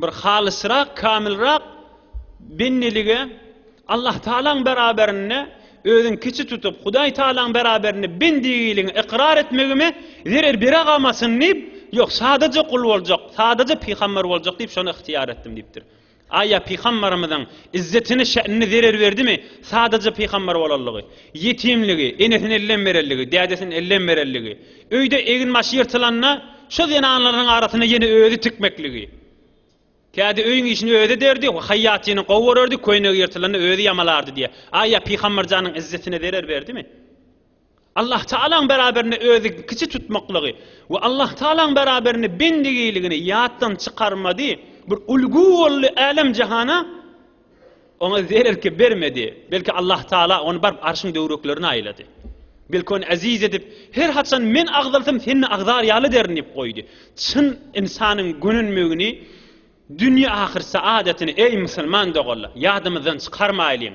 Bir halysrak, kamilrak bendelige Allah Tagalaň beraberinde özüň kiçi tutup, Hudaý Tagalaň beraberinde bendigiligiňi ykrar etmegime zerer beregamasyn diýip, ýok, sadaja gul boljak, sadaja pygamber boljak diýip, şony ygtyýar etdim diýipdir. Aýa Pygambarymyzyň izzetini şe'nini zerer berdimi? Sadaja Pygambar bolanlygy, ýetimligi, enesini elden berenligi, dädesini elden berenligi, öýde egin başy ýyrtylanda şo zenanlarynyň arasyny ýene özi tikmekligi. Kädi öýüň işini özi ederdi, haýýatyny gowy görerdi, köýnegi ýyrtylanda özi ýamalardy diýýär. Aýa Pygambarjanyň izzetine zerer berdimi? Allahtagalaň beraberinde özi kiçi tutmaklygy we Allahtagalaň beraberinde bendigiligini ýatdan çykarmady, bir ulgy boldy älem-jahana, oňa zerer-kep bermedi. Belki Allahtagala ony baryp Arşyň döwreklerine aýlady. Belki ony eziz edip, her haçan men agzalsam sen-de agzar ýaly derin diýip goýdy. Çyn ynsanyň gönenmegini, dünýe-ahyr saadatyny, eý, musulman doganlar, ýadymyzdan çykarmaýlyň.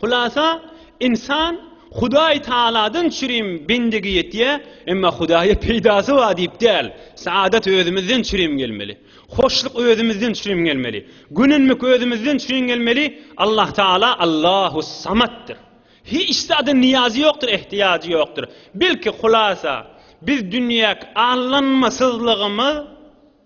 Hulasa, ynsan Hudaý Tagaladan çürim bendigi etýä, emma Hudaýa peýdasy bar diýip däl. Saadat özümizden çürim gelmeli. Hoşluk özümizden çürim gelmeli. Gönenmek özümizden çürim gelmeli. Allah Tagala Allahus-Samatdyr. Hiç zada niýazy ýokdur, ähtiýajy ýokdur. Belki, hulasa, biz dünýäki allanmasyzlygymyz,